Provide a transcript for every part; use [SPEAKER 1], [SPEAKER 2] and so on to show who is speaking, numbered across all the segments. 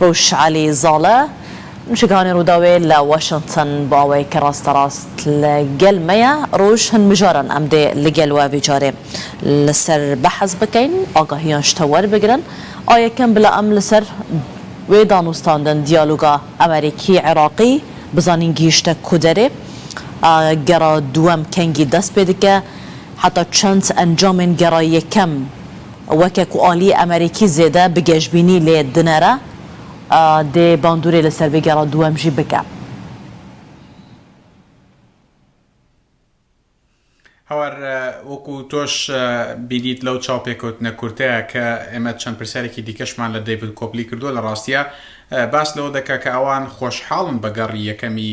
[SPEAKER 1] ڕوشعەلی زاڵە، مووشەکەوانی ڕووداوێ لە واشنتن بۆ ئەوەێ کە ڕاستە ڕاست لە گەل مەیە، ڕووژ هن مژارن ئەم دێ لە گەل وە ڤیجارێ لە سەر بەحس بکەین، ئاگاهیان شتە وەر بگرن، ئا یەکەم بلا ئەم لە سەر وێ دانوستاندن، دیالوگا، ئەمەریکی، عێراقی بزانین گیشتە کو دەرێ، ئا گەڕا دووەم کەنگی دەس پێ دکە، حەتا چەند ئەنجامێن گەڕا یەکەم. وەکێ کو ئالی ئەمەریکی زێدە بگێژبینی لێ دنەرە دێ باندورێ لە سەر بگێڕە دووەم ژی بکە.
[SPEAKER 2] هاوار وەکو تۆش بینیت لەو چاوپێکەوتنە کورتەیە کە ئێمە چەند پرسیارێکی دیکەشمان لە دەیڤد کۆپلی کردووە لە ڕاستیە باس لەوە دەکا کە ئەوان خۆشحاڵن بە گەڕی یەکەمی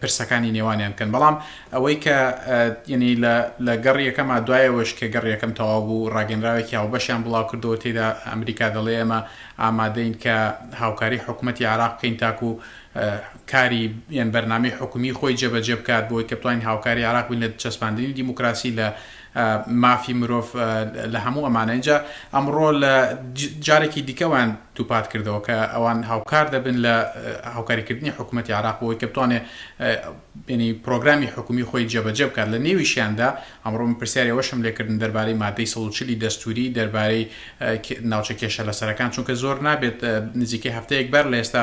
[SPEAKER 2] پرسەکانی نێوانیان بکەن بەڵام ئەوەی کە یعنی لە گەڕ یەکەما دوایەوەش کە گەڕ یەکەم تەواو بوو ڕاگەنراوێکی هاوبەشیان بڵاو کردەوە تێدا ئەمریکا دەڵێ ئەمە ئامادەین کە هاوکاری حکوومەتتی عراق بکەین تاکو کاری یان بەرنامی حکومی خۆی جێبەجێ بکات بۆی کە بتوانین هاوکاری عراق بین لە چەسپاندنی دیموکراسی لە مافی مرۆڤ لە هەموو ئەمانە ئینجا ئەمڕۆ لە جارێکی دیکە وان دووپات کردەوە کە ئەوان هاوکار دەبن لە هاوکاریکردنی حکوومەتتی عراق بۆی کە بتوانێ بینی پرۆگرامی حکومی خۆی جێبەجێ بکات لە نێویشیاندا ئەمڕۆ من پرسیاری وەشم لێکردن دەربارەی مادەی سەڵچلی دەستوری دەربارەی ناوچە کێشە لەسەرەکان چونکە زۆر نابێت نزیکەی هەفتەیەک بەر لە ئێستا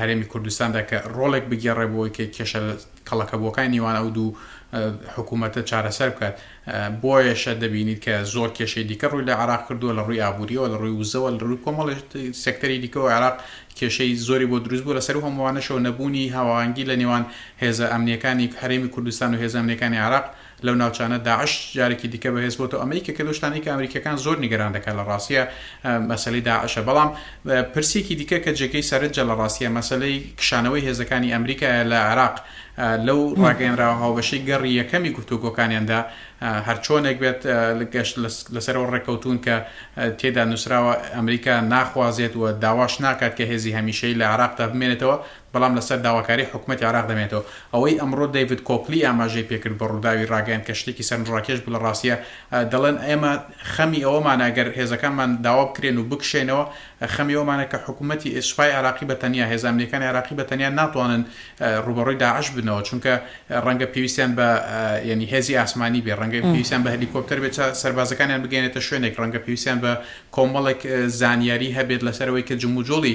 [SPEAKER 2] هەرێمی کوردستاندا کە ڕۆڵێک بگێڕێ بۆ ئەوەی کە کێشە کەڵەکەبووەکانی نێوان ئەو دوو حکوومەتە چارەسەر بکات بۆیەشە دەبینیت کە زۆر کێشەی دیکە ڕووی لە عراق کردووە لە ڕووی ئابووریەوە لە ڕووی وزەوە لە ڕووی کۆمەڵ سەکتەری دیکەەوە عراق کێشەی زۆری بۆ دروست بوو لەسەر هەمووانەشەوە نەبوونی هاوانگی لە نێوان هێزە ئەمنیەکانی هەرێمی کوردستان و هێزانەکانی عراق لەو ناوچانە داعش جارێکی دیکە بەهێز بۆتەوە ئەمە یەکێکە لەو شتانەی کە ئەمریکیەکان زۆر نیگەران دەکات لە ڕاستیە مەسەلەی داعشە بەڵام پرسێکی دیکە کە جێگەی سەرنجە لە ڕاستیە مەسەلەی کشانەوەی هێزەکانی ئەمریکایە لە عێراق لەو ڕاگەیەنراوە هاوبەشەی گەڕی یەکەمی گفتوگۆکانیاندا هەرچۆنێک بێت گەشت لەسەرەوە ڕێکەوتون کە تێدا نووسراوە ئەمریکا ناخوازێت و داواش ناکات کە هێزی هەمیشەی لە عێراقدا بمێنێتەوە بەڵام لەسەر داواکاری حکومەتی عێراق دەمێنێتەوە. ئەوەی ئەمڕۆ دەیڤد کۆکلی ئاماژەی پێکرد بە ڕووداوی ڕاگەیاند کە شتێکی سەرنجڕاکێش بوو لە ڕاستیا دەڵێن ئێمە خەمی ئەوەمانە گەر هێزەکانمان داوا بکرێن و بکشێنەوە خەمی ئەوەمانە کە حکومەتی سوپای عێراقی بە تەنیا هێزە ئەمنیەکانی عێراقی بە تەنیا ناتوانن ڕووبەڕووی داعش بنەوە چونکە ڕەنگە پێویستیان بە یەنی هێزی ئاسمانی بێ ڕەنگە پێویستیان بە هەلیکۆپتەر بێت تا سەربازەکانیان بگەیەنێتە شوێنێک ڕەنگە پێویستیان بە کۆمەڵێک زانیاری هەبێت لەسەر ئەوەی کە جموجۆڵی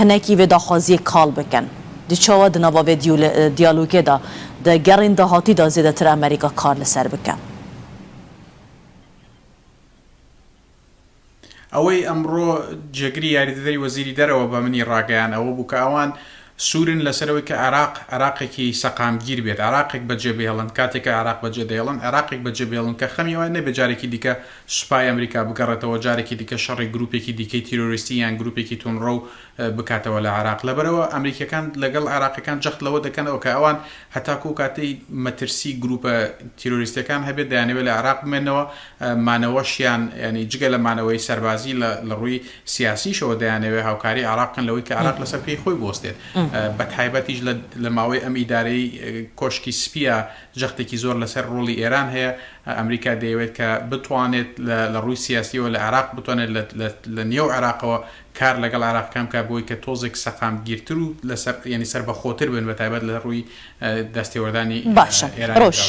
[SPEAKER 1] هەناکی ڤێ داخوازییە کاڵ بکەن. دی چاوا دنا با ڤێ دیالوگێ دا دە گەڕین داهاتی دا زێدەتر ئەمەریکا کار لە سەر بکەن.
[SPEAKER 2] ئەوەی ئەمڕۆ جێگری یاریدەدەری وەزیری دەرەوە بە منی ڕاگەیان ئەوە بوو کە ئەوان سوورن لەسەر ئەوەی کە عێراق عێراقێکی سەقامگیر بێت، عێراقێک بەجێبهێڵن، کاتێک کە عێراق بەجێدەهێڵن، عێراقێک بەجێبهێڵن کە خەمی ئەوە نەبێت جارێکی دیکە سوپای ئەمریکا بگەڕێتەوە جارێکی دیکە شەڕی گروپێکی دیکەی تیرۆریستی یان گروپێکی توندڕەو بکاتەوە لە عێراق لەبەرئەوە ئەمریکیەکان لەگەڵ عێراقیەکان جەخت لەوە دەکەنەوە کە ئەوان هەتاکو ئەو کاتەی مەترسی گروپە تیرۆریستیەکان هەبێت دەیانەوێت لە عێراق بمێنەوە مانەوەشیان یانی جگە لە مانەوەی سەربازی لە لە ڕووی سیاسیشەوە دەیانەوێت هاوکاری عێراق بکەن لەوەی کە عێراق لەسەر پێی خۆی بوەستێت بەتایبەتیش لە لە ماوەی ئەم ئیدارەی کۆشکی سپیە جەختێکی زۆر لەسەر ڕۆڵی ئێران هەیە، ئەمریکا دەیەوێت کە بتوانێت لە ڕووی سیاسییەوە لە عێراق بتوانێت لە نێو عێراقەوە کار لەگەڵ عێراقییەکان بکات بۆی کە تۆزێک سەقامگیرتر و لەسەر یانی سەربەخۆتر بن بە تایبەت لە ڕووی دەستێوەردانی ئێرانی
[SPEAKER 1] دراوسێوە. باشە، ڕۆژ،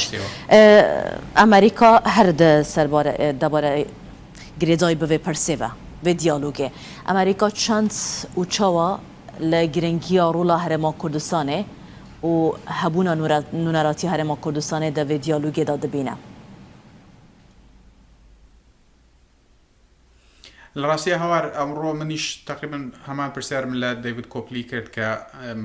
[SPEAKER 1] ئەمریکا هەر دە سەر بارە دە بارە گرێدای بڤێ پرسێڤە، ڤێ دیالۆگێ، ئەمریکا چەند ئوچەوە، لە گرنگییا رولا هەرێما کوردستانێ و هەبوونا نونەراتی هەرێما کوردستانێ دە ڤێ دیالوگێ دا دبینە.
[SPEAKER 2] لە راستیا هاوار ئەمڕۆ منیش تەقریبەن هەمان پرسیارم لە دەیڤد کۆپلی کرد کە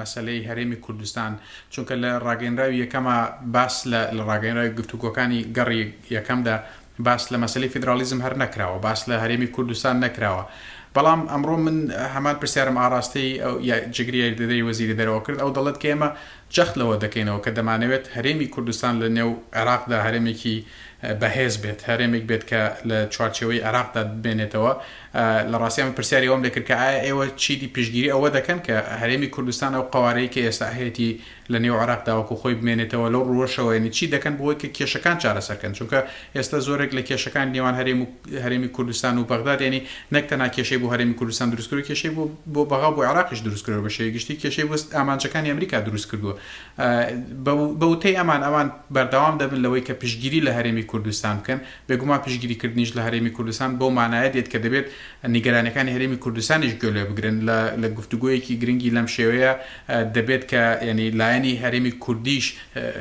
[SPEAKER 2] مەسەلەی هەرێمی کوردستان چونکە لە راگەینراوی یەکەما باس لە لە راگەینراوی گفتوگۆکانی گەڕی یەکەمدا باس لە مەسەلەی فیدراڵیزم هەر نەکراوە، باس لە هەرێمی کوردستان نەکراوە، بەڵام ئەمڕۆ من هەمان پرسیارم ئاڕاستەی جێگری یاریدەدەری وەزیری دەرەوە کرد، ئەو دەڵێت کە ئێمە جەخت لەوە دەکەینەوە کە دەمانەوێت هەرێمی کوردستان لە نێو عێراقدا هەرێمێکی بەهێز بێت، هەرێمێک بێت کە لە چوارچێوەی عێراقدا بمێنێتەوە. لە ڕاستیدا من پرسیاری ئەوەم لێ کرد کە ئایا ئێوە چیدی پشتگیری ئەوە دەکەن کە هەرێمی کوردستان ئەو قەوارەی کە ئێستا هەیەتی لە نێو عێراق دا وەکوو خۆی بمێنێتەوە لەو ڕووەشەوە یەنی چی دەکەن بۆ ئەوەی کە کێشەکان چارەسەر کەن چونکە ئێستا زۆرێک لە کێشەکانی نێوان هەرێم و هەرێمی کوردستان و بەغداد یەنی نەک تەنها کێشەی بۆ هەرێمی کوردستان دروست کردووە کێشەی بۆ بۆ بەغا و بۆ عێراقیش دروست کردووە بە شێوەی گشتی کێشەی بۆ ئامانجەکانی ئەمریکا دروست کردووە بە بە وتەی ئەمان ئەوان بەردەوام دەبن لەوەی کە پشتگیری لە هەرێمی کوردستان بکەن بێگومان پشتگیری کردنیش لە هەرێمی کوردستان بەو مانایە دێت کە دەبێت نیگەرانیەکانی هەرێمی کوردستانیش گوێ لێ بگرن لە لە گفتوگۆیەکی گرنگی لەم شێوەیە دەبێت کە یانی لایەنی هەرێمی کوردیش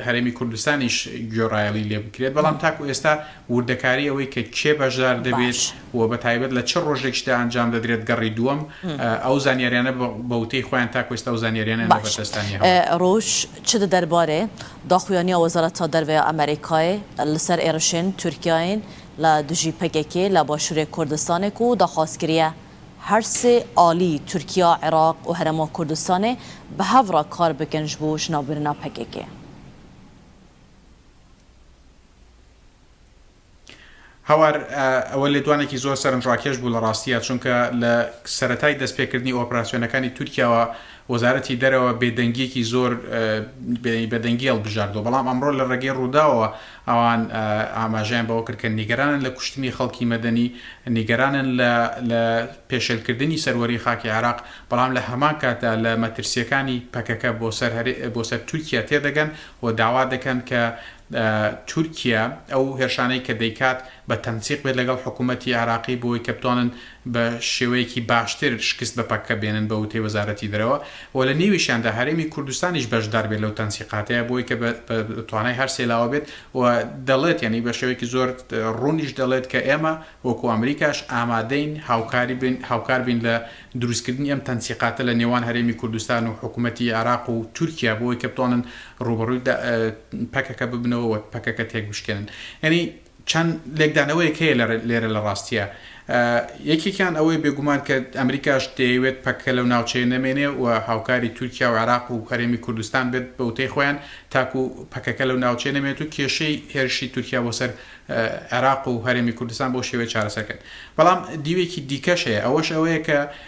[SPEAKER 2] هەرێمی کوردستانیش گوێڕایەڵی لێ بکرێت، بەڵام تاکو ئێستا وردەکاری ئەوەی کە کێ بەشدار دەبێت باش و بە تایبەت لە چ ڕۆژێکیشدا ئەنجام دەدرێت گەڕی دووەم ئەو زانیاریانە بە بە وتەی خۆیان تاکو ئێستا ئەو زانیاریانەیان لە باش بەردەستدا نییە هەوڵ ڕۆژ
[SPEAKER 1] چ دە دەربارەێ داخویانیا وەزارەتا دەرڤەێ ئەمەریکاێ لە سەر ئێڕشێن تورکیاێن لە دژی پەکەکێ لە باشوورێ کوردستانێک و داخواز کریە هەر سێ ئالی، تورکیا، عێراق و هەرێما کوردستانێ، بە هەڤ ڕا کار بکن ژ بۆ ژناوبرنا پەکەکێ.
[SPEAKER 2] هاوار، ئەوە لێدوانێکی زۆر سەرنجڕاکێش بوو لە ڕاستییا، چونکە لە سەرەتای دەست پێکردنی ئۆپراسیۆنەکانی تورکیاوە، وەزارەتی دەرەوە بێدەنگییەکی زۆر بێدەنگی هەڵبژاردووە، بەڵام ئەمڕۆ لە ڕێگەی ڕووداوەوە ئەوان ئاماژەیان بەوە کرد کە نیگەرانن لە کوشتنی خەڵکی مەدەنی، نیگەرانن لە لە پێشێلکردنی سەروەریی خاکی عێراق، بەڵام لە هەمان کاتدا لە مەترسییەکانی پەکەکە بۆ سەر بۆ سەر تورکیا تێدەگەن و داوا دەکەن کە تورکیا ئەو هێرشانەی کە دەیکات بە تەنسیق بێت لەگەڵ حکوومەتی عێراقی بۆوەی کە بتوانن بە شێوەیەکی باشتر شکست بە پەککە بێنن بە وتەی وەزارەتی دەرەوە و لە نێویشیاندا هەرێمی کوردستانیش بەشدار بێت لەو تەنسیقاتەیە بۆوەی کە بە توانای هەر سێ لاوە بێت و دەڵێت یانی بە شێوەیەکی زۆر ڕوونیش دەڵێت کە ئێمە وەکوو ئەمریکاش ئامادەین هاوکاری بین هاوکار بین لە دروست کردنی ئەم تەنسیقاتە لە نێوان هەرێمی کوردستان و حکوومەتی عێراق و تورکیا بۆوەی کە بتوانن ڕووبەڕووی پەکەکە ببنەوە و پەکەکە تێک بشکێنن یانی چەند لێکدانەوەیەک هەیە لێرە لە ڕاستییە. یەکێکیان ئەوەیە بێگومان کە ئەمریکاش دەیەوێت پەککە لەو ناوچەیە نەمێنێ و هاوکاری تورکیا و عێراق و هەرێمی کوردستان بێت بە وتەی خۆیان تاکو پەکەکە لەو ناوچەیە نەمێنێت و کێشەی هێرشی تورکیا بۆ سەر عێراق و هەرێمی کوردستان بەو شێوەیە چارەسەر بکەن. بەڵام دیوێکی دیکەش هەیە ئەوەش ئەوەیە کە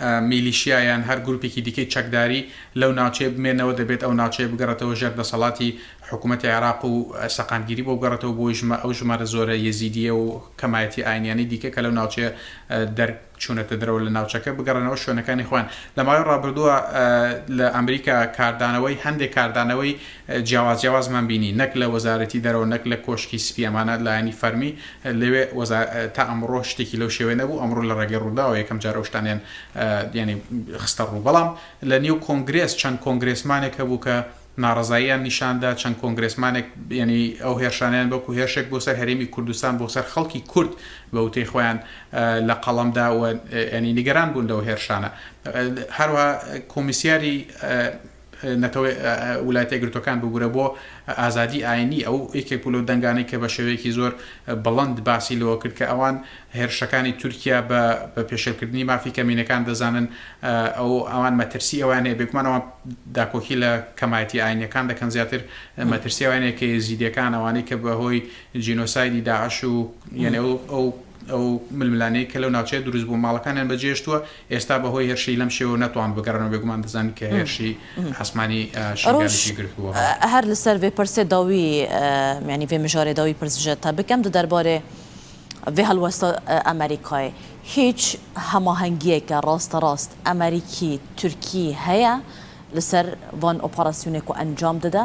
[SPEAKER 2] میلیشیا یان هەر گروپێکی دیکەی چەکداری لەو ناوچەیە بمێنەوە، دەبێت ئەو ناوچەیە بگەڕێتەوە ژێر دەسەڵاتی حکوومەتی عێراق و سەقامگیری بۆ بگەڕێتەوە بۆ ژمە ئەو ژمارە زۆرە یەزیدییە و کەمایەتی ئاینییانەی دیکە کە لەو ناوچەیە دەر چوونەتە دەرەوە لە ناوچەکە بگەڕێنەوە شوێنەکانی خۆیان. لە ماوەی ڕابردووە لە ئەمریکا کاردانەوەی هەندێک کاردانەوەی جیاواز جیاوازمان بینی نەک لە وەزارەتی دەرەوە نەک لە کۆشکی سپی ئەمانە لایەنی فەرمی لەوێ وەزا تا ئەمڕۆ شتێکی لەو شێوەیە نەبوو ئەمڕۆ لە ڕێگەی ڕووداوە یەکەم جار ئەو شتانەیان یانی خستە ڕوو بەڵام لە نێو کۆنگرێس چەند کۆنگرێسمانێک هەبوو کە ناڕەزاییان نیشان دا چەند کۆنگرێسمانێک یانی ئەو هێرشانەیان وەکوو هێرشێک بۆ سەر هەرێمی کوردستان بۆ سەر خەڵکی کورد بە وتەی خۆیان لە قەڵەم دا و یانی نیگەران بوون لەو هێرشانە هەروەها کۆمیسیاری نەتەوە ولایەتە یەکگرتووەکان ببورە بۆ ئازادی ئاینی ئەو یەکێک بوو لەو دەنگانەی کە بە شێوەیەکی زۆر بڵند باسی لەوە کرد کە ئەوان هێرشەکانی تورکیا بە بە پێشێلکردنی مافی کەمینەکان دەزانن ئەو ئەوان مەترسی ئەوان هەیە بێگومان ئەوان داکۆکی لە کەمایەتی ئاینەکان دەکەن زیاتر مەترسی ئەوانەیە کە یزیدەکان ئەوانەی کە بەهۆی جینۆسایدی داعش و یەنێ ئەو ئەو ململانێی کە لەو ناوچەیە دروست بوو ماڵەکانیان بەجێشتووە ئێستا بەهۆی هێرشی لەم شێوە نەتوان بگەڕنەوە بێگومان دەزانین کە هێرشی ئاسمانی شنگالیشی گرتبووە. ڕۆژ هەر لەسەر ڤێ
[SPEAKER 1] پرسێ داوی یانی ڤێ مژارێ داوی پرس ژە تە بکەم دە دەربارێ ڤێ هەڵوەستە ئەمەریکای هیچ هەماهەنگییەکە ڕاستەڕاست ئەمەریکی تورکی هەیە لەسەر ڤان ئۆپەڕاسیونێک و ئەنجام دەدە؟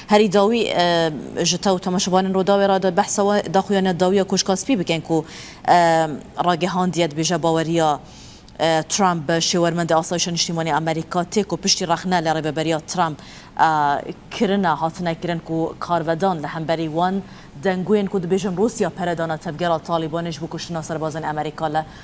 [SPEAKER 1] هەری داوی ژ تەو تەماشەبانن روداوێ را دە بەحسە وە داخویانە داویە کۆشکا سپی بکەین کو راگەهاندیەت بێژە باوەریا ترامپ بە شێوەرمەندە ئاسایشە نیشتیمانی ئەمەریکا تێک و پشتی رەخنە لە رێبەبەریا ترامپ کرنە هاتنە کرن کو کارڤەدان لە هەمبەری وان دەنگوێن کو دبێژن روسیا پەرە دانە تەڤگەرا تالیبانێش بو کوشتنا سەربازێن ئەمەریکا لە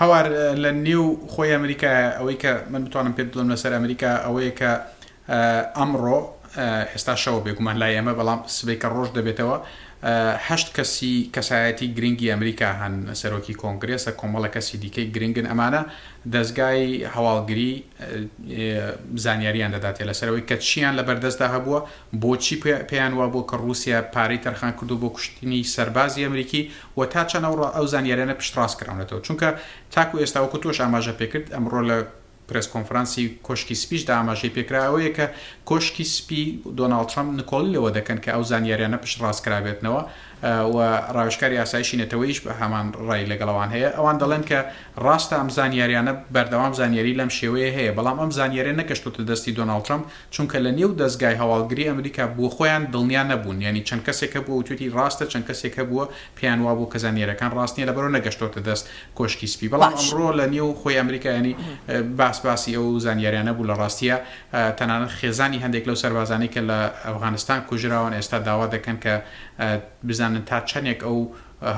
[SPEAKER 2] هاوار لە نێو خۆی ئەمریکایە ئەوەی کە من بتوانم پێت بڵم لەسەر ئەمریکا ئەوەیە کە ئەمڕۆ هێستا شەوە بێگومان لای ئەمە بەڵام سبەی کە ڕۆژ دەبێتەوە هەشت کەسی کەسایەتی گرنگی ئەمریکا هەن سەرۆکی کۆنگرێسە کۆمەڵە کەسی دیکەی گرنگن ئەمانە دەستگای هەواڵگری زانیاریان دەداتێ لەسەرەوەی کە چیان لە بەردەستدا هەبووە بۆچی پێیان وا بۆ کە رووسیا پارەی تەرخان کردو بۆ کوشتنی سەربازی ئەمریکی و تا چەند ئەو ئەو زانیاریانە پشتڕاست کراونەتەوە چونکە تاکو ئێستا وەکو تۆش ئاماژە پێکرد ئەمڕۆ لە پرێس کۆنفرانسی کۆشکی سپیشدا ئاماژەی پێکرا ئەوەیە کە کۆشکی سپی دۆناڵد ترەمپ نکۆڵی لەوە دەکەن کە ئەو زانیاریانە پشتڕاست کرابێتنەوە و ڕاوێژکاری ئاسایشی نەتەوەیش بە هەمان ڕای لەگەڵ ئەوان هەیە ئەوان دەڵێن کە ڕاستە ئەم زانیاریانە بەردەوام زانیاری لەم شێوەیە هەیە بەڵام ئەم زانیاریە نەگەشتوتە دەستی دۆناڵد ترەمپ چونکە لە نێو دەزگای هەواڵگری ئەمریکا بۆ خۆیان دڵنیا نەبوون یانی چەند کەسێک هەبووە وتوێتی ڕاستە چەند کەسێک هەبووە پێیان وابوو کە زانیاریەکان ڕاست نیە لەبەرەوە نەگەشتۆتە دەست کۆشکی سپی بەڵام باش ئەمڕۆ لە نێو خۆی ئەمریکا یانی باس باسی ئەو زانیاریانە بوو لە ڕاستیە تەنانەت خێزانی هەندێک لەو سەربازانەی کە لە ئەفغانستان کوژراون ئێستا داوا دەکەن کە بزانن تا چەندێک ئەو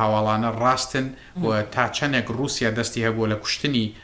[SPEAKER 2] هەواڵانە ڕاستن و تا چەندێک ڕووسیا دەستی هەبووە لە کوشتنی